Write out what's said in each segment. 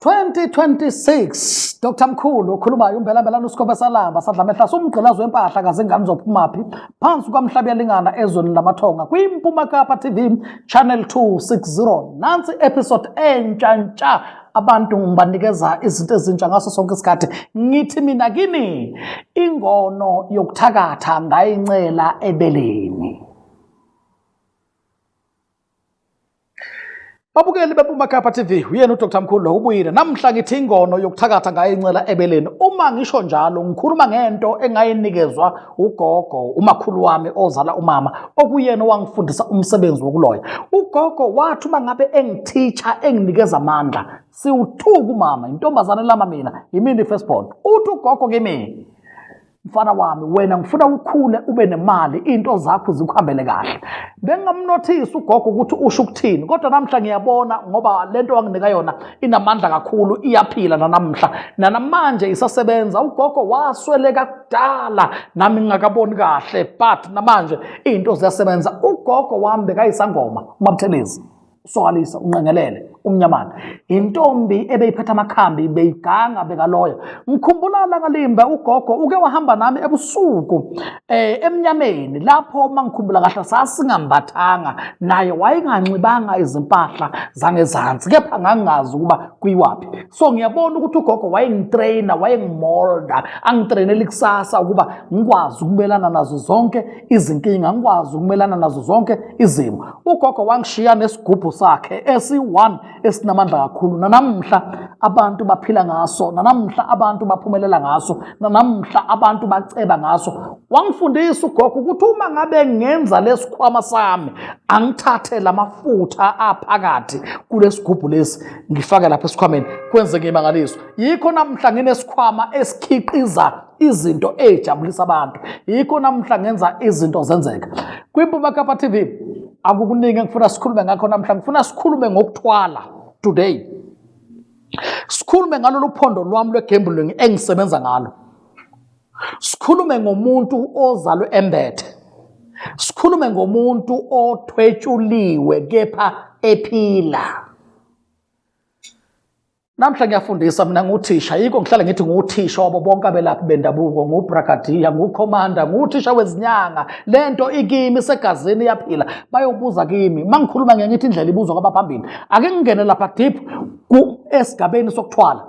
2026 Dr Mkhulu okhulumayo umbela mbela uSikhombe salamba sadla mehla somgqilazo wempahla kazingane zophumaphi phansi kwamhlabi yalingana ezweni lamathonga kwiMpuma Kapa TV channel 260 nansi episode entsha ntsha abantu ngibanikeza izinto ezintsha ngaso sonke isikhathi ngithi mina kini ingono yokuthakatha ngayincela ebeleni Babukeli beMpumakhapha TV, uyena uDr Mkhulu lo ubuyile. Namhla ngithi ingono yokuthakatha ngayo incela ebeleni. Uma ngisho njalo ngikhuluma ngento engayinikezwa ugogo, umakhulu wami ozala umama, okuyena owangifundisa umsebenzi wokuloya. Ugogo wathi uma ngabe engithicha enginikeza amandla, siwuthuka umama, intombazane lama mina, yimini firstborn. Uthi ugogo kimi mfana wami wena ngifuna ukhule ube nemali into zakho zikuhambele kahle bengingamnothisi ugogo ukuthi usho ukuthini kodwa namhla ngiyabona ngoba lento wanginika yona inamandla kakhulu iyaphila nanamhla nanamanje isasebenza ugogo wasweleka kudala nami ngingakaboni kahle but namanje izinto ziyasebenza ugogo wami bekayisangoma umabuthelezi usokalisa unqengelele umnyamana intombi ebeyiphetha amakhambi beyiganga bekaloya ngikhumbula langalimba ugogo uke wahamba nami ebusuku eh emnyameni lapho mangikhumbula kahle sasingambathanga naye wayenganxibanga izimpahla zangezansi kepha ngangazi ukuba kuyiwaphi so ngiyabona ukuthi ugogo wayengitraina wayengimolda angitrainela ikusasa ukuba ngikwazi ukumelana nazo zonke izinkinga ngikwazi ukumelana nazo zonke izimo ugogo wangishiya nesigubhu sakhe esi-one esinamandla kakhulu nanamhla abantu baphila ngaso nanamhla abantu baphumelela ngaso nanamhla abantu baceba ngaso wangifundisa ugogo ukuthi uma ngabe ngenza lesikhwama sami angithathe lamafutha aphakathi kulesigubhu lesi ngifake lapha esikhwameni kwenzeke imangaliso yikho namhla nginesikhwama esikhiqiza izinto ey'jabulisa abantu yikho namuhla ngenza izinto zenzeka kwimpuma kapa tv akukuningi engifuna sikhulume ngakho namuhla ngifuna sikhulume ngokuthwala today sikhulume ngalolu phondo lwami lwegambling engisebenza ngalo sikhulume ngomuntu ozalwe embethe sikhulume ngomuntu othwetshuliwe kepha ephila Namhla ngiyafundisa mina nguthisha, yiko ngihlale ngithi nguthisha wabo bonke abelaphi bendabuko, ngubrigadier, ngucommander, nguthisha wezinyanga. Lento ikimi segazini iyaphila. Bayobuza kimi. Mangikhuluma ngiye ngithi indlela ibuzwa kwabaphambili. Ake ngingene lapha deep ku esigabeni sokuthwala.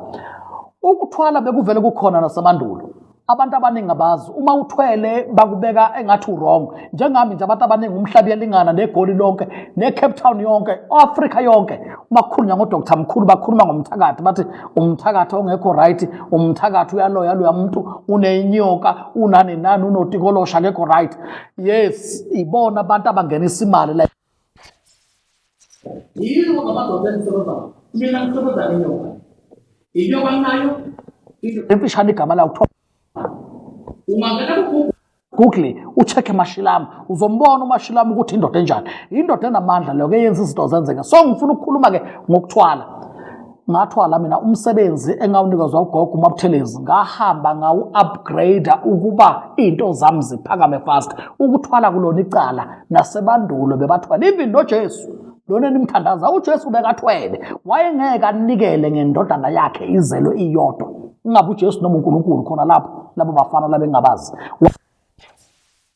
Ukuthwala bekuvele kukhona nasemandulo. abantu abaningi abazi uma uthwele bakubeka engathi urong njengami nje abantu abaningi umhlaba uyalingana negoli lonke ne-cape town yonke o-afrika yonke uma kukhulunywa ngodoktar mkhulu bakhuluma ngomthakathi bathi umthakathi ongekho right umthakathi uyaloya loya muntu unenyoka unani nani unotikolosha akekho right yes ibona abantu abangenisa imali la Yini ngamadoda engisebenza mina ngisebenza nenyoka. Inyoka nayo emfishane igama lawo kuthiwa ungangena kuGoogle Google ucheck emashilamu uzombona umashilamu ukuthi indoda enjani indoda enamandla leyo ke yenza izinto zenzeke so ngifuna ukukhuluma ke ngokuthwala ngathwala mina umsebenzi engawunikezwa ugogo umabuthelezi ngahamba ngawu-upgrade ukuba iy'nto zami ziphakame fast ukuthwala kulona icala nasebandulo bebathwala even nojesu lona enimthandaza ujesu bekathwele wayengeke anikele ngendodana yakhe izelwe iyodwa ingabe ujesu noma unkulunkulu khona lapho labo bafana labengabazi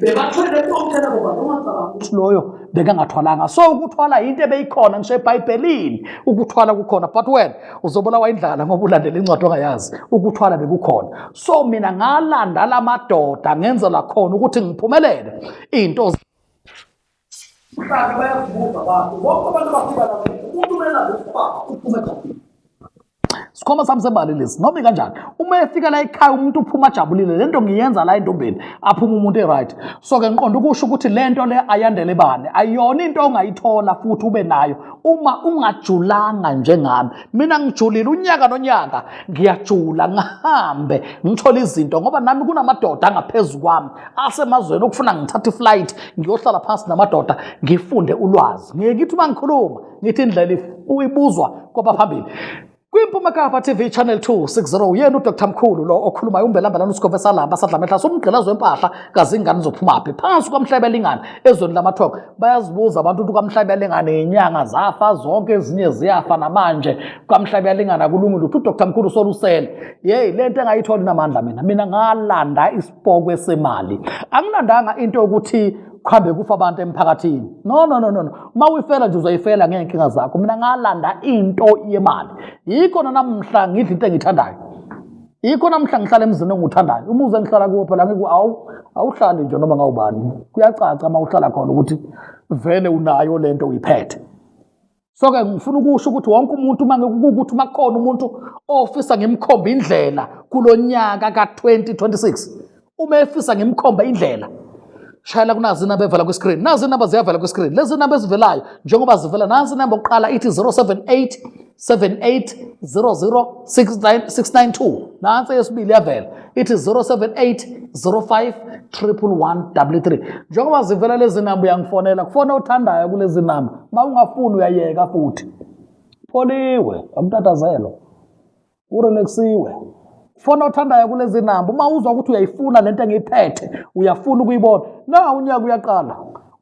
bebathwele konke labo bantu ungacabanga ukuthi loyo bekangathwalanga so ukuthwala yinto ebeyikhona ngisho ebhayibhelini ukuthwala kukhona but wena uzobulawa indlala ngoba ulandela incwadi ongayazi ukuthwala bekukhona so mina ngalanda la madoda ngenzela khona ukuthi ngiphumelele iy'nto Mhlawumbe bayazibuza abantu bonke abantu abafika lapho umuntu umele abe ubaba uphume ejabulile. Sikhoma sami sebali lesi noma ikanjani uma efika la ekhaya umuntu uphuma ajabulile lento ngiyenza la entombeni aphuma umuntu eright so ke ngiqonda ukusho ukuthi lento le ayandele bani ayona into ongayithola futhi ube nayo uma ungajulanga njengami mina ngijulile unyaka nonyaka ngiyajula ngihambe ngithole izinto ngoba nami kunamadoda angaphezu kwami asemazweni okufuna ngithathe iflight ngiyohlala phansi namadoda ngifunde ulwazi ngiye ngithi uma ngikhuluma ngithi indlela uyibuzwa kwabaphambili kwimpuma kapa tv channel 260 uyena udr mkhulu lo okhulumayo umbelambelana usigove salamba sadlamehlasa umgqilazo wempahla kazingane zophumaphi phansi kwamhlebe elingana ezweni lamathoko bayazibuza abantu ukuthi ukamhlabiyalingana yinyanga zafa zonke ezinye ziyafa namanje ukamhlabiyalingana kulungile ukuthi udr mkhulu solusele yeyi le nto engayitholi namandla mina mina ngalanda isipokwe semali angilandanga into yokuthi kuhambe kufa abantu emphakathini no no no no uma uyifela nje uzoyifela ngey'nkinga zakho mina ngalanda into yemali yikho nanamhla ngidla into engiyithandayo yikho namhla ngihlala emzini engiwuthandayo umuzi engihlala kuwo phela ngiku awu awuhlali nje noma ngawubani kuyacaca uma uhlala khona ukuthi vele unayo le nto uyiphethe so-ke ngifuna ukusho ukuthi wonke umuntu uma ngikukuthi uma kukhona umuntu ofisa ngimkhombe indlela kulo nyaka ka-2026 uma efisa ngimkhomba indlela shayela kunazi inamba evela kwiscreen nazi inamba ziyavela kwiscreen lezi namba ezivelayo njengoba zivela nansi inamba yokuqala ithi 078 78006992 nansi eyesibili yavela ithi 07805133 njengoba zivela lezi namba uyangifonela kufona othandayo kulezi namba uma ungafuni uyayeka futhi pholiwe amtatazelwa Urelaxiwe. Fona othandayo kulezi namba uma uzwa ukuthi uyayifuna lento engiyiphethe, uyafuna ukuyibona. Na unyaka uyaqala.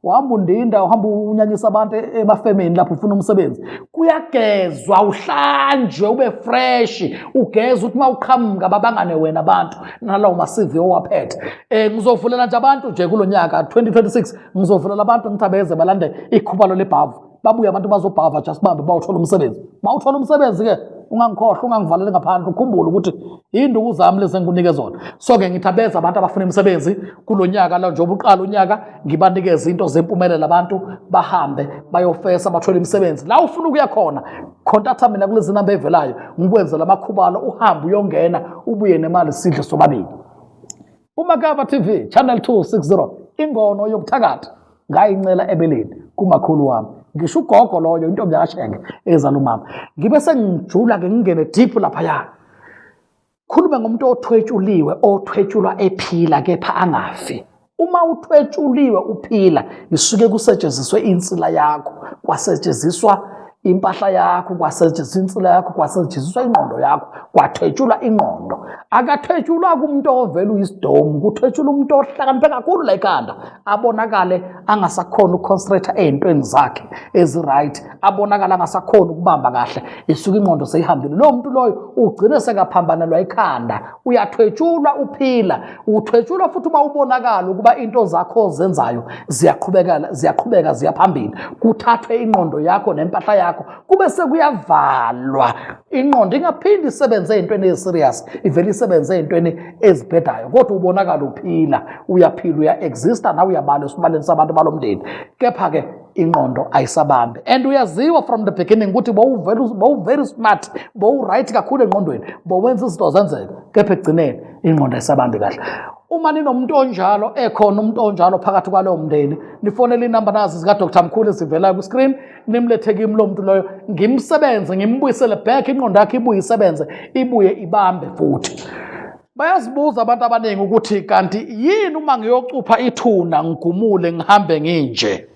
Uhamba undinda, uhamba unyanyisa abantu e-, emafemini lapho ufuna umsebenzi. Kuyagezwa, uhlanjwe, ube fresh, ugeze uthi uma uqhamuka babangane wena abantu nalawo ma-CV owaphethe. Eh ngizovulela nje abantu nje kulonyaka 2026 ngizovulela abantu ngithabeze balande ikhubalo lebhavu. babuye abantu bazobhava just bambe bawuthola umsebenzi bawuthola umsebenzi ke ungangikhohlwa ungangivalele ngaphandle ukhumbule ukuthi induku zami lezi engikunike zona so ke ngithi abeza abantu abafuna imisebenzi kulo nyaka la njengoba uqala unyaka ngibanikeze into zempumelelo abantu bahambe bayofesa bathole imisebenzi la ufuna ukuya khona khontatha mina kulezi namba evelayo ngikwenzela amakhubalo uhambe uyongena ubuye nemali sidle sobabili umakaba tv channel 260 ingono yokuthakatha ngayincela ebeleni kumakhulu wami ngisho ugogo loyo intombi yakashenge ezala umama ngibe sengijula-ke ngingene deep laphaya khulume ngomuntu othwetshuliwe othwetshulwa ephila kepha angafi uma uthwetshuliwe uphila isuke kusetshenziswe insila yakho kwasetshenziswa impahla yakho kwasetshenziswa insila yakho kwasetshenziswa ingqondo yakho kwathwetshulwa ingqondo akathwetshulwa kumuntu ovela uyisidomu kuthwetshula umuntu ohlakaniphe kakhulu la ekhanda abonakale angasakhona ukuconcentrate ey'ntweni zakhe ezi-right abonakale angasakhona ukubamba kahle isuke ingqondo seyihambile lowo muntu loyo ugcine sekaphambanelwa ikhanda uyathwetshulwa uphila uthwetshulwa futhi uma ubonakala ukuba into zakho ozenzayo ziyaqhubekela ziyaqhubeka ziyaphambili kuthathwe ingqondo yakho nempahla yakho kube sekuyavalwa ingqondo ingaphindi isebenze ey'ntweni ezi-serious ivele isebenze ey'ntweni ezibhedayo kodwa ubonakala uphila uyaphila uya-exista nawe uyabala esibaleni sabantu balo mndeni kepha-ke ingqondo ayisabambi and uyaziwa from the beginning ukuthi bowuvery smart bowuright kakhulu engqondweni bowenza izinto zenzeke kepha ekugcineni ingqondo ayisabambi kahle uma ninomuntu onjalo ekhona umuntu onjalo phakathi kwalowo mndeni nifonele inamba nazi zikadr mkhulu ezivelayo kwiscreen nimlethe kimi lo muntu loyo ngimsebenze ngimbuyisele back inqondo yakhe ibuye isebenze ibuye ibambe futhi Bayazibuza abantu abaningi ukuthi kanti yini uma ngiyocupha ithuna ngigumule ngihambe nginje.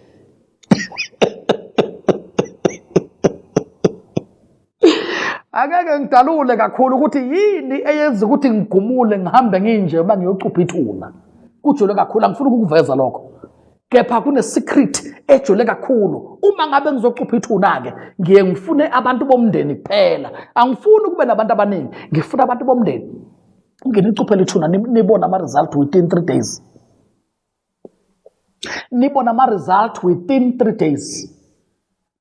Angeke ngidalule kakhulu ukuthi yini eyenza ukuthi ngigumule ngihambe nginje uma ngiyocupha ithuna. Kujule kakhulu angifuni ukukuveza lokho. kepha kunesecret ejule kakhulu uma ngabe ngizocupha ithuna-ke ngiye ngifune abantu bomndeni kuphela angifuni ukube nabantu abaningi ngifuna abantu bomndeni nginicuphele ithuna nibone ama-result within three days nibone ama-result within three days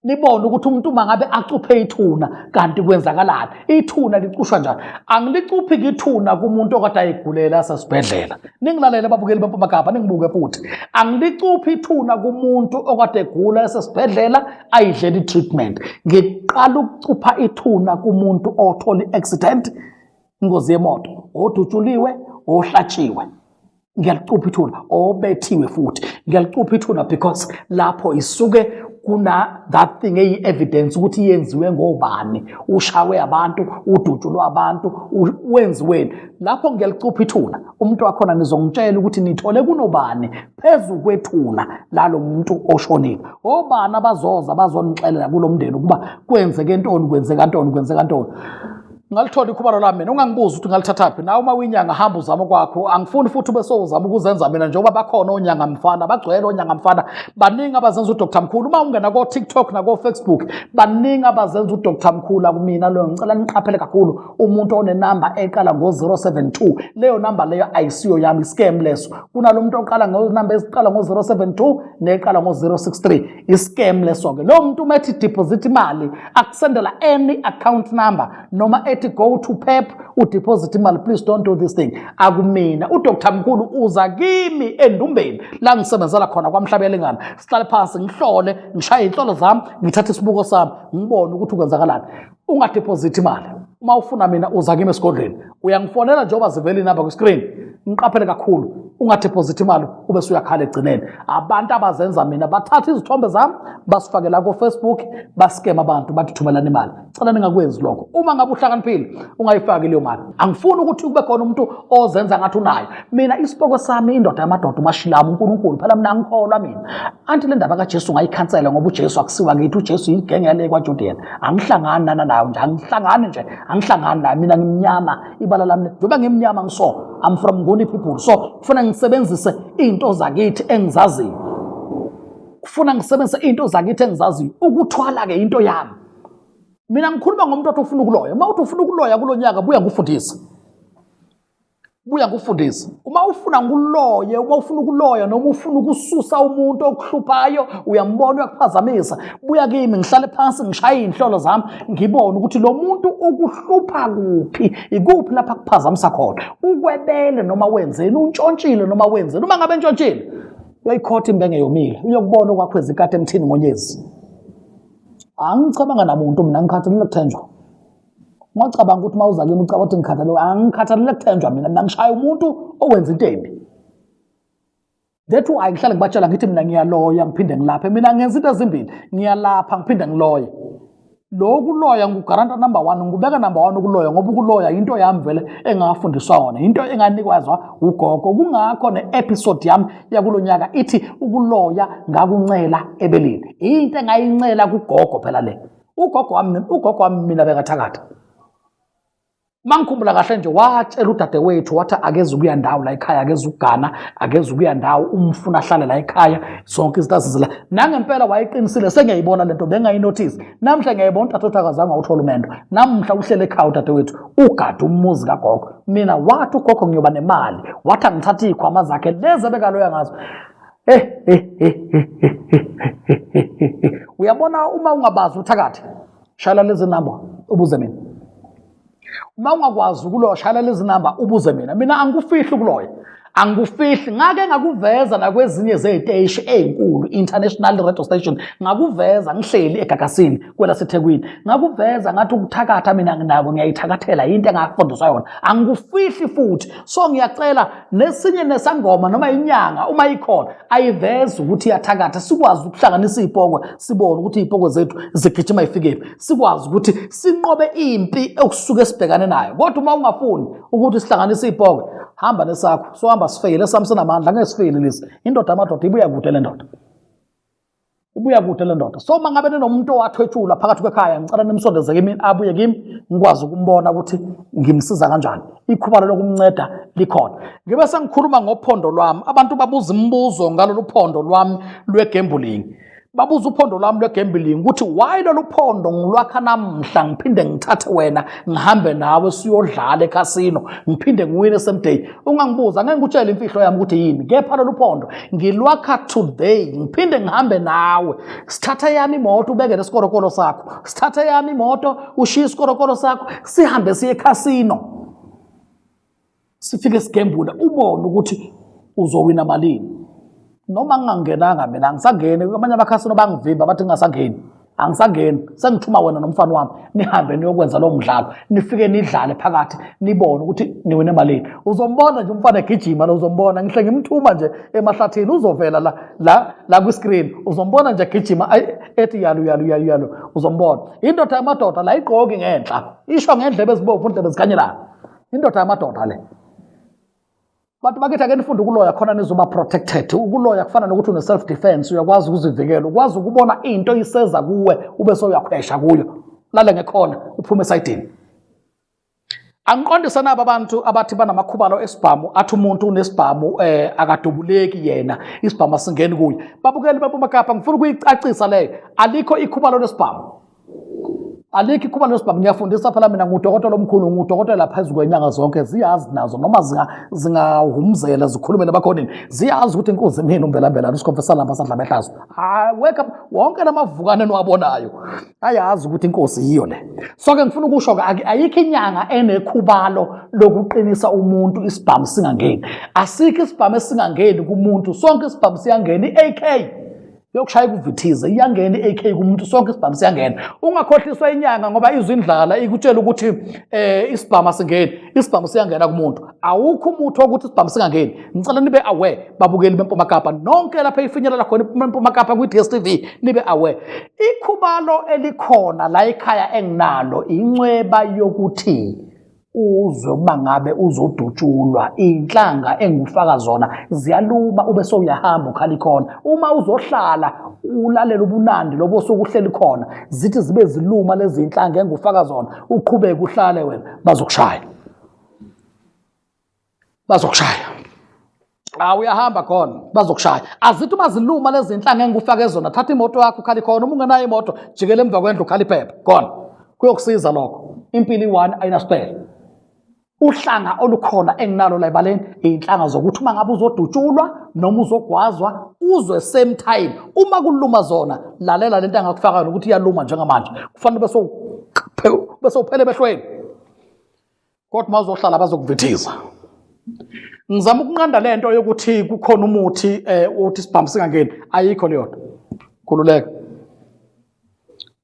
nibone ukuthi umuntu uma ngabe acuphe ithuna kanti kwenzakalani ithuna licushwa njani angilicuphi ngithuna kumuntu okade ayigulela asesibhedlela ningilalele babukeli bempumagaba ningibuke futhi angilicuphi ithuna kumuntu okade egula esesibhedlela ayidlela i-treatment ngiqala ukucupha ithuna kumuntu othola i-accident ingozi yemoto odutshuliwe ohlatshiwe ngiyalicupha ithuna obethiwe futhi ngiyalicupha ithuna because lapho isuke kuna that thing eyi evidence ukuthi yenziwe ngobani ushawe abantu udutshulwe abantu wenziweni lapho ngiyalicupha ithuna umuntu wakhona nizongitshela ukuthi nithole kunobani phezu kwethuna lalo muntu oshonile obani abazoza bazonixelela kulomndeni ukuba kwenzeke ntoni kwenzeka ntoni kwenzeka ntoni ngalithola ikhubalo lami mina ungangibuzi ukuthi ngalithathaphi nawe uma uyinyanga hamba uzama kwakho angifuni futhi ube sowuzama ukuzenza mina njengoba bakhona onyanga mfana bagcwele onyanga mfana baningi abazenza udr mkhulu uma ungena kotiktok nakofacebook baningi abazenza udr mkhulu akumina leyo ngicela niqaphele kakhulu umuntu onenamba eqala ngo-072 leyo namba leyo ayisiyo yami iscam leso kunalo muntu oqala ngonamba eziqala ngo-072 neqala ngo-063 iscam leso-ke lowo muntu uma ethi deposit imali akusendela any account number noma ethi go to pep udeposit imali please don't do this thing akumina udr mkhulu uza kimi endumbeni la ngisebenzela khona kwamhlabelingana sihlale phansi ngihlole ngishaye iy'nhlolo zami ngithathe isibuko sami ngibone ukuthi ukwenzakalani ungadepozithi imali uma ufuna mina uza kimi esigodlweni uyangifonela njengoba zivela inamba kwi-screen ngiqaphele kakhulu ungadepozithi imali ube suyakhala egcineni abantu abazenza mina bathatha izithombe zami basifake la kofacebook basikema abantu bathi thumelana imali cela ningakwenzi lokho uma ngabe uhlakaniphile ungayifaki leyo mali angifuni ukuthi kube khona umuntu ozenza ngathi unayo mina isipoko sami indoda yamadoda umashilamu unkulunkulu phela mina angikholwa mina anti le ndaba kajesu ngayikhansela ngoba ujesu akusiwa ngithi ujesu yigenge yale kwajudian angihlangani nana nayo nje angihlangani nje angihlangani nayo mina ngimnyama ibala lami njengoba ngimnyama ngiso i'm from ngoni people so kufuna ngisebenzise into zakithi engizaziyo kufuna ngisebenzise into zakithi engizaziyo ukuthwala-ke into yami mina ngikhuluma ngomuntu othi ufuna ukuloya uma uthi ufuna ukuloya kulo nyaka buya ngikufundise buya kufundisa uma ufuna nguloye uma ufuna ukuloya noma ufuna ukususa umuntu okuhluphayo uyambona uyakuphazamisa buya kimi ngihlale phansi ngishaye iy'nhlolo zami ngibone ukuthi lo muntu ukuhlupha kuphi ikuphi lapho akuphazamisa khona ukwebele noma wenzeni untshontshile noma wenzeni uma ngabe ntshontshile uyayikhotha imbenge yomile uyokubona okwakho ezikade emthini ngonyezi angicabanga namuntu mina ngikhathalele kuthenjwa ungacabanga ukuthi uma uza kimi ucaba ukuthi ngikhathalelwe angikhathalele kuthenjwa mina mina ngishaya umuntu owenza into embi that why ngihlale ngibatshela ngithi mina ngiyaloya ngiphinde ngilaphe mina ngenza into ezimbili ngiyalapha ngiphinde ngiloye lokhu loya ngugaranta number one ngubeka number one ukuloya ngoba ukuloya yinto yami vele engafundiswa yona yinto enganikwazwa ugogo kungakho ne-episode yami yakulo nyaka ithi ukuloya ngakuncela ebelini into engayincela kugogo phela le ugogo wami ugogo wami mina bekathakatha mangikhumbula kahle nje watshela udadewethu wathi akeze ukuya ndawo la ekhaya akeze ukugana akeze ukuya ndawo umfuna ahlale la ekhaya zonke izinto azizela nangempela wayeqinisile sengiyayibona lento bengayinothisi namhla ngiyayibona udadewethu akazange awuthola umendo namhla uhlele ekhaya udadewethu ugade umuzi kagogo mina wathi ugogo ngiyoba nemali wathi angithathe iy'khwama zakhe lezi abekaloya ngazo uyabona uma ungabazi uthakathi shayela lezi namba ubuze mina uma ungakwazi ukuloya shayela lezi namba ubuze mina mina angikufihli ukuloya angikufihli ngake ngakuveza nakwezinye zey'teshi ey'nkulu international radio station ngakuveza ngihleli egagasini kwelasethekwini ngakuveza ngathi ukuthakatha mina nginako ngiyayithakathela yinto engafundiswa yona angikufihli futhi so ngiyacela nesinye nesangoma noma inyanga uma ikhona ayiveze ukuthi iyathakatha sikwazi ukuhlanganisa iy'pokwe sibone ukuthi iy'pokwe zethu zigijima ifikephi sikwazi ukuthi sinqobe impi okusuke sibhekane nayo kodwa uma ungafuni ukuthi sihlanganise iy'pokwe hamba nesakho sohamba sifeyile sami sinamandla ngeke sifeyile lesi indoda amadoda ibuya kude le ndoda ibuya kude le ndoda so mangabe ninomuntu owathwetshulwa phakathi kwekhaya ngicela nimsondeze kimi abuye kimi ngikwazi ukumbona ukuthi ngimsiza kanjani ikhubalo lokumnceda likhona ngibe sengikhuluma ngophondo lwami abantu babuza imibuzo ngalolu phondo lwami lwegambling babuza uphondo lwami lwegambling ukuthi why lolu phondo ngilwakha namhla ngiphinde ngithathe wena ngihambe nawe siyodlala ekhasino ngiphinde ngiwine same day ungangibuza ngeke ngikutshele imfihlo yami ukuthi yini kepha lolu phondo ngilwakha today ngiphinde ngihambe nawe sithatha yami imoto ubekele isikorokolo sakho sithatha yami imoto ushiye isikorokolo sakho sihambe siye ekhasino sifike sigembule ubone ukuthi uzowina malini noma ngingangenanga mina angisangeni abanye abakhasini bangivimba bathi ngingasangeni angisangeni sengithuma wena nomfana wami nihambe niyokwenza lowo mdlalo nifike nidlale phakathi nibone ukuthi niwine malini uzombona nje umfana egijima lo uzombona ngihle ngimthuma nje emahlathini uzovela la la la kwi-screen uzombona nje egijima ethi yalu yalu yalu yalu uzombona indoda yamadoda la igqoki ngenhla isho ngendlebe ezibomvu ndlebe zikhanyelana indoda yamadoda le Bantu bakithi ake nifunde ukuloya khona nizoba protected. Ukuloya kufana nokuthi une self defense, uyakwazi ukuzivikela, ukwazi ukubona into iseza kuwe ube soyakhwesha kuyo. Lale ngekhona uphume esayidini. Angiqondise nabo abantu abathi banamakhubalo esibhamu athi umuntu unesibhamu eh akadubuleki yena isibhamu asingeni kuye. Babukeli babumakapha ngifuna ukuyicacisa leyo. Alikho ikhubalo lesibhamu. alikho ikhuba lesibhamu ngiyafundisa phela mina ngudokotela omkhulu ngudokotela phezu kwenyanga zonke ziyazi nazo noma zingahumzela zikhulume nabakhonini ziyazi ukuthi inkunzi mina umbelambelana usikhomfesa lamba sadla behlazo hayi weka wonke lamavukane niwabonayo ayazi ukuthi inkosi yiyo le so-ke ngifuna ukusho-ke ayikho inyanga enekhubalo lokuqinisa umuntu isibhamu singangeni asikho isibhamu esingangeni kumuntu sonke isibhamu siyangena i-ak yokushaya kuvithize iyangena i-AK kumuntu sonke isibhamu siyangena ungakhohliswa inyanga ngoba izwe indlala ikutshela ukuthi eh isibhamu asingeni isibhamu siyangena kumuntu awukho umuthi wokuthi isibhamu singangeni ngicela nibe aware babukeli bempuma kapa nonke lapha ifinyelela khona impuma kapa kwi DStv nibe aware ikhubalo elikhona la ekhaya enginalo incweba yokuthi uzwe ukuba ngabe uzodutshulwa inhlanga engufaka zona ziyaluma ube sowuyahamba ukhala ikhona uma uzohlala ulalela ubunandi lobo sokuhleli khona zithi zibe ziluma lezi inhlanga engufaka zona uqhubeke uhlale wena bazokushaya bazokushaya Ah uyahamba khona bazokushaya. Azithi uma ziluma lezi zinhla ngeke ufake zona. Thatha imoto yakho ukhali khona uma ungenayo imoto jikela emva kwendlu ukhali phepha. Khona. Kuyokusiza lokho. Impilo i-one ayinasipele. Uhlanga olukhona enginalo la ebaleni inhlanga zokuthi uma ngabe uzodutshulwa noma uzogwazwa uzwe same time uma kuluma zona lalela lento angakufakayo ukuthi iyaluma njengamanje kufanele bese bese uphele behlweni kodwa uma uzohlala bazokuvithiza ngizama ukunqanda le nto yokuthi kukhona umuthi um uthi sibhambi singangeni ayikho leyo nto khululeka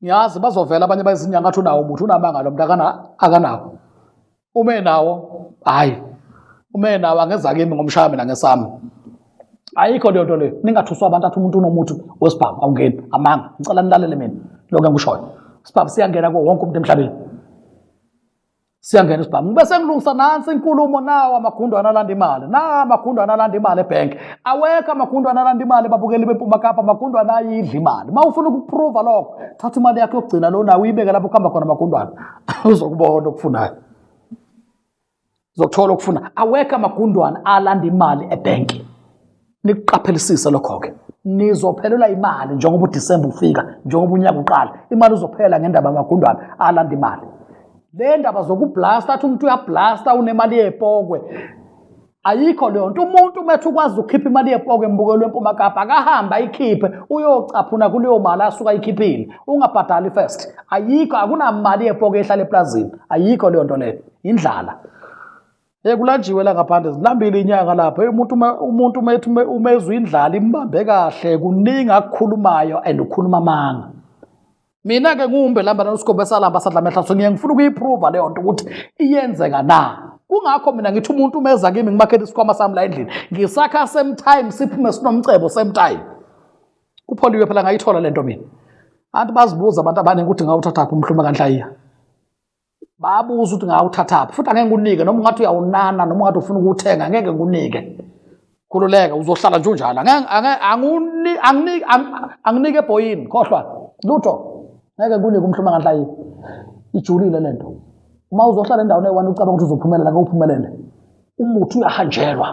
ngiyazi bazovela abanye bayizinyanga athi unawo umuthi unamanga lo mntu akanawo uma enawo hhayi uma enawo angeza kimi ngomshaya mina ngesami ayikho leyo nto leyo ningathuswa abantu athi umuntu unomuthi wesibhamu awungeni amanga ngicela nilalele mina lokho engikushoyo isibhamu siyangena kuwo wonke umuntu emhlabeni siyangena isibhamu ngibe sengilungisa nansi inkulumo nawo amagundo analanda imali na amagundo analanda imali ebhenki awekho amagundo analanda imali babukeli bempuma kapa amagundo anayidla imali uma ufuna ukuprova lokho thatha imali yakho yokugcina lo nawe uyibeke lapho kuhamba khona amagundwana uzokubona okufunayo uzokuthola okufuna awekho amagundwana alanda imali ebhenki nikuqaphelisise lokho-ke nizophelelwa imali njengoba udisemba ufika njengoba unyaka uqala imali uzophela ngendaba yamagundwane alanda imali le ndaba zokublasta athi umuntu uyablasta unemali yepokwe ayikho leyo nto umuntu umethe ukwazi ukukhipha imali yepokwe embukelo wempuma kapa akahambe ayikhiphe uyocaphuna kuleyo mali asuke ayikhiphile ungabhadali first ayikho akunamali yepokwe ehlala eplazini ayikho leyo nto leyo yindlala Eh kulanjiwe la ngaphandle zilambile inyanga lapha. Hey umuntu uma umuntu uma ethi ume- uma ezwa indlala imbambe kahle kuningi akukhulumayo and ukhuluma amanga. Mina ke ngumbe lamba nosikhombe salamba sadla mehla so ngiye ngifuna ukuyiprova leyo nto ukuthi iyenzeka na. Kungakho mina ngithi umuntu uma eza kimi ngimakhele isikhwama sami la endlini ngisakha same time siphume sinomcebo same time. Kupholiwe phela ngayithola lento mina. Anti bazibuza abantu abaningi ukuthi ngawuthathaphi umhluma kanhlayiya. babuza ukuthi ngawuthathaphi futhi angeke ngikunike noma ungathi uyawunana noma ungathi ufuna ukuwuthenga ngeke ngikunike khululeka uzohlala nje unjalo anginike ebhoyini khohlwa lutho ngeke ngikunike umhluma nganhlayi ijulile le nto uma uzohlala endaweni eyi-one ucabanga ukuthi uzophumelela ngeke uphumelele umuthi uyahanjelwa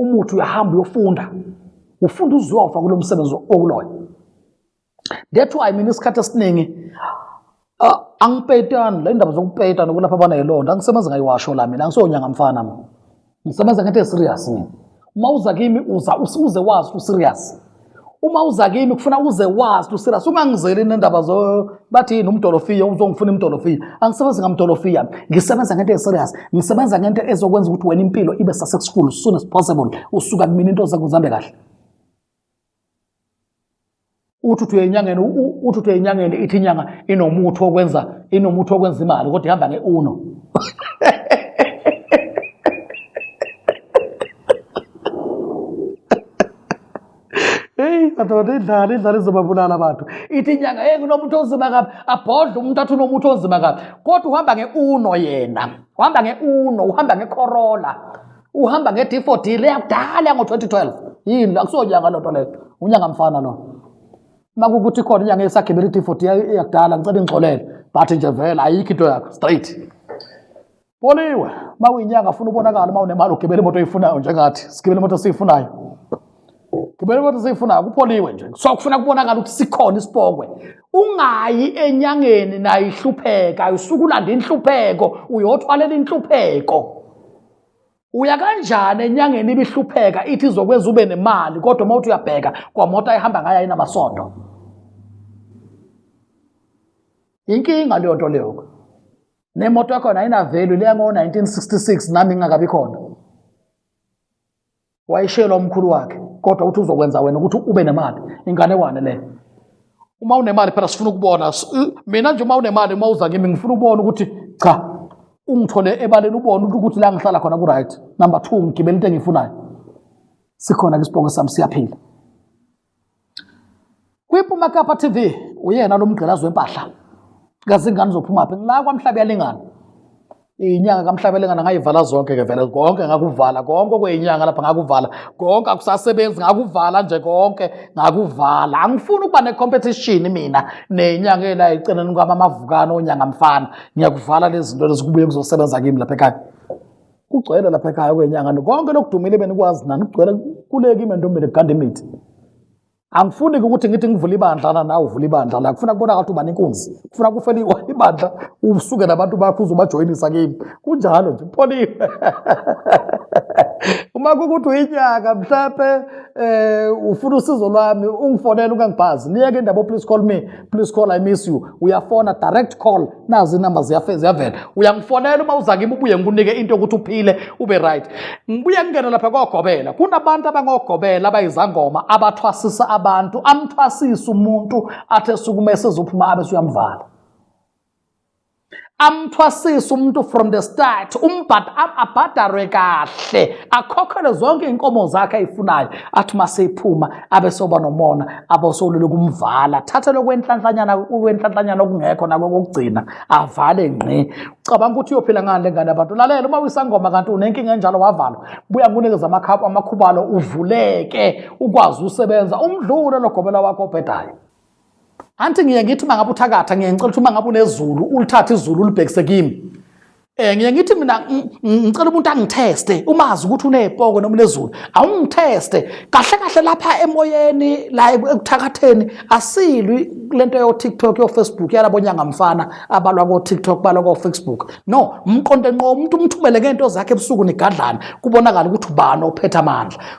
umuthi uyahamba uyofunda ufunda uzofa kulo msebenzi okuloyo that's why mina isikhathi esiningi ah, angipetani le ndaba zokupeta nokulapha abana yilonda angisebenzi ngayiwasho la mina angisonyanga mfana mina ngisebenza ngento eserious mina uma uza kimi uza uze wazi userious uma uza kimi kufuna uze wazi userious ungangizeli nendaba zo bathi yini umdolofiya uzongifuna imdolofiya angisebenzi ngamdolofiya ngisebenza ngento eserious ngisebenza ngento ezokwenza ukuthi wena impilo ibe successful soon as possible usuka kumina into zakuzambe kahle uthi uthi uyenyangeni uthi uthi uyenyangeni ithi inyanga inomuthi wokwenza inomuthi wokwenza imali kodwa ihamba nge-uno madoda idlala idlala izobabulala abantu ithi inyanga hey kunomuntu onzima kabi abhodle umuntu athi unomuntu onzima kabi kodwa uhamba nge-uno yena uhamba nge-uno uhamba ngekhorola uhamba nge-d4d le yakudala yango-2012 yini la kusonyanga loo nto leyo unyanga mfana lo uma kukuthi khona inyanga esagibela i-d4d yakudala ngicela ingixolele but nje vele ayikho into yakho straight boliwe uma uyinyanga funa ubonakala uma unemali ugibela imoto oyifunayo njengathi sigibela imoto siyifunayo ngibele kodwa seyifuna kupholiwe nje so kufuna kubonakala ukuthi sikhona isibhokwe ungayi enyangeni nayo ihlupheka usuke ulanda inhlupheko uyothwalela inhlupheko uya kanjani enyangeni ibihlupheka ithi izokwenza ube nemali kodwa uma uthi uyabheka kwamoto ayihamba ngayo ayinamasondo inkinga leyo nto leyo nemoto yakhona ayinavelu leya ngo-1966 nami ngingakabi khona wayishelwa umkhulu wakhe kodwa uthi uzokwenza wena ukuthi ube nemali inganekwane leyo uma unemali phela sifuna ukubona mina nje uma unemali uma uza kimi ngifuna ukubona ukuthi cha ungithole ebaleni ubone ukuthi la ngihlala khona ku-right number two ngigibela into engiyifunayo sikhona-ke isibongo sami siyaphila Kwiphuma Kapa TV uyena lo mgqilazi wempahla kazingane zophuma phi la kwamhlabe yalingana inyanga kamhlabe lengana ngayivala zonke ke vele konke ngakuvala konke okweyinyanga lapha ngakuvala konke akusasebenzi ngakuvala nje konke ngakuvala angifuni ukuba ne-competition mina nenyanga ela eceleni kwamamavukane onyanga mfana ngiyakuvala lezi zinto lezi kubuye kuzosebenza kimi lapha ekhaya kugcwele lapha ekhaya kwenyanga konke lokudumile benikwazi nani kugcwele kuleki ime ntombile kuganda imithi angifuni ukuthi ngithi ngivula ibandla na nawe uvula ibandla la kufuna kubona ukuthi uba nenkunzi kufuna kufela ibandla usuke nabantu bakho uzobajoyinisa kimi kunjalo nje pholile uma kukuthi uyinyaka mhlawumbe um ufuna usizo lwami ungifonele ungangibhazi niyeke indaba oh, please call me please call i miss you uyafona direct call nazi inamba ziyavela uyangifonela uma uza kimi ubuye ngikunike into yokuthi uphile ube right ngibuye ngingene lapha kogobela kunabantu abangogobela abayizangoma abathwasisa abantu amthwasisa umuntu athe sukume sezophuma abe suyamvala amthwasise umuntu from the start abhadalwe kahle akhokhele zonke iy'nkomo zakhe ayifunayo athi uma seyiphuma abesoba nomona abosolule kumvala thatha lokwenhlanhlanyana ukwenhlanhlanyana okungekho nako kokugcina avale ngqi ucabanga ukuthi uyophila ngani lengane abantu lalela uma uyisangoma kanti unenkinga enjalo wavalwa buya nginikeza amakhaphu amakhubalo uvuleke ukwazi usebenza umdlule logobela wakho obhedayo anti ngiye ngithi uma ngabe uthakatha ngiye ngicela ukuthi uma ngabe unezulu ulithathe izulu ulibhekise kimi um ngiye ngithi mina ngicela umuntu angitheste umazi ukuthi uney'poko noma unezulu awungitheste kahle kahle lapha emoyeni la ekuthakatheni asilwi kule nto yo-tiktok yo-facebook yalabo nyangamfana abalwa ko-tiktok balwa ko-facebook no mqonde nqo umuntu umthumele ngey'nto zakhe ebusuku nigadlane kubonakala ukuthi ubani ophethe amandla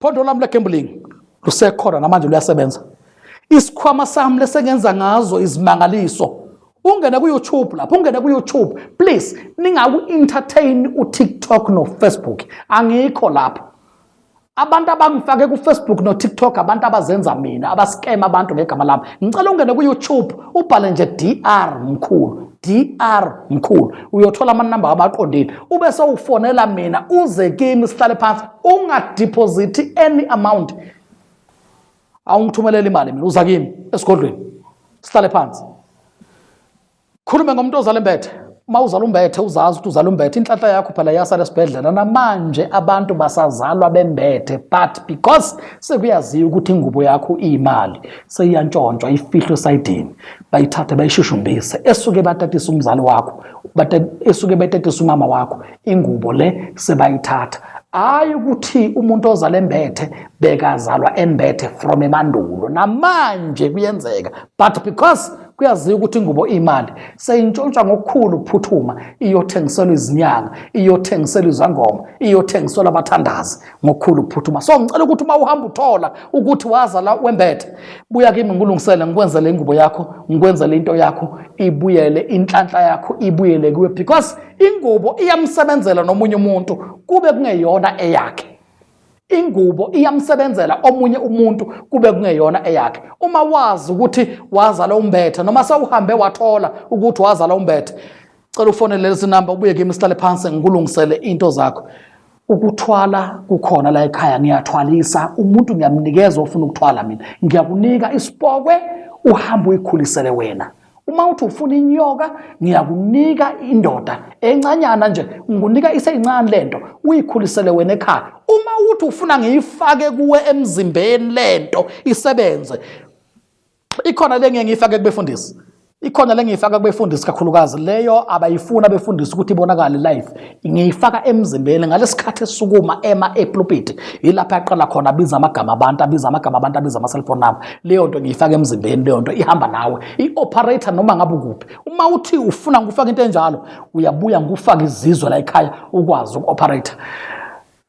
Phondo lami legambling lusekhona namanje luyasebenza. Isikhwama sami lesengenza ngazo izimangaliso. Ungene ku YouTube lapho, ungene ku YouTube. Please ningaku entertain u TikTok no Facebook. Angikho lapho. Abantu abangifake ku Facebook no TikTok abantu abazenza mina, abascam abantu ngegama lami. Ngicela ungene ku YouTube ubhale nje DR mkhulu. DR mkhulu uyothola amanumber abaqondile ube sewufonela mina uze kimi sihlale phansi ungadeposit any amount awungithumelela imali mina uza kimi esigodlweni sihlale phansi khulume ngomuntu ozala imbethe uma uzala umbethe uzazi ukuthi uzala umbethe inhlanhla yakho phela yasala esibhedlela namanje abantu basazalwa bembethe but because sekuyaziwa ukuthi ingubo yakho iyimali seyiyantshontshwa ifihlwe esayidini bayithathe bayishushumbise esuke batatisa umzali wakho esuke betatisa umama wakho ingubo le sebayithatha hayi ukuthi umuntu ozala embethe bekazalwa embethe from emandulo namanje kuyenzeka but because kuyaziwa ukuthi ingubo imali seyintshontshwa ngokukhulu ukuphuthuma iyothengiselwa izinyanga iyothengiselwa izangoma iyothengiselwa abathandazi ngokukhulu ukuphuthuma so ngicela ukuthi uma uhamba uthola ukuthi waza la wembethe buya kimi ngikulungisele ngikwenzele ingubo yakho ngikwenzele into yakho ibuyele inhlanhla yakho ibuyele kuwe because ingubo iyamsebenzela nomunye umuntu kube kungeyona eyakhe ingubo iyamsebenzela omunye umuntu kube kungeyona eyakhe uma wazi ukuthi wazala umbethe noma sewuhambe wathola ukuthi wazala umbethe cela ufonele lezi namba ubuye kimi sihlale phansi ngikulungisele into zakho Ukuthwala kukhona la ekhaya ngiyathwalisa umuntu ngiyamnikeza ofuna ukuthwala mina ngiyakunika isipokwe uhambe uyikhulisele wena uma uthi ufuna inyoka ngiyakunika indoda encanyana nje ngikunika iseyincane lento uyikhulisele wena ekhaya uma uthi ufuna ngiyifake kuwe emzimbeni lento isebenze Ikhona le ngeke ngiyifake kubefundisi. Ikhona le ngiyifaka kubefundisi kakhulukazi leyo abayifuna befundisi ukuthi ibonakale live. Ngiyifaka emzimbeni ngalesikhathi esukuma ema epulpit yilapha aqala khona abiza amagama abantu abiza amagama abantu abiza ama cell phone number. Leyo nto ngiyifaka emzimbeni leyo nto ihamba nawe. I operator noma ngabe ukuphi. Uma uthi ufuna ngikufaka into enjalo uyabuya ngikufaka izizwe la ekhaya ukwazi uku operator.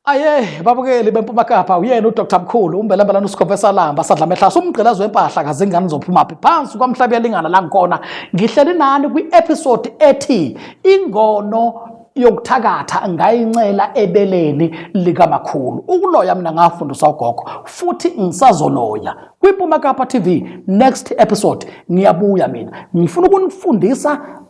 Aye babukeli beMpuma Kapa uyena uDr Mkhulu umbelembelana uSikhove Salamba sadla mehlasa umgqilazi wempahla kazingane zophuma phi phansi kwamhlaba yalingana la ngikona ngihleli nani kwi-episode ethi ingono yokuthakatha ngayincela ebeleni likamakhulu ukuloya mina ngafundisa ugogo futhi ngisazoloya kwiMpuma Kapa TV next episode ngiyabuya mina ngifuna ukunifundisa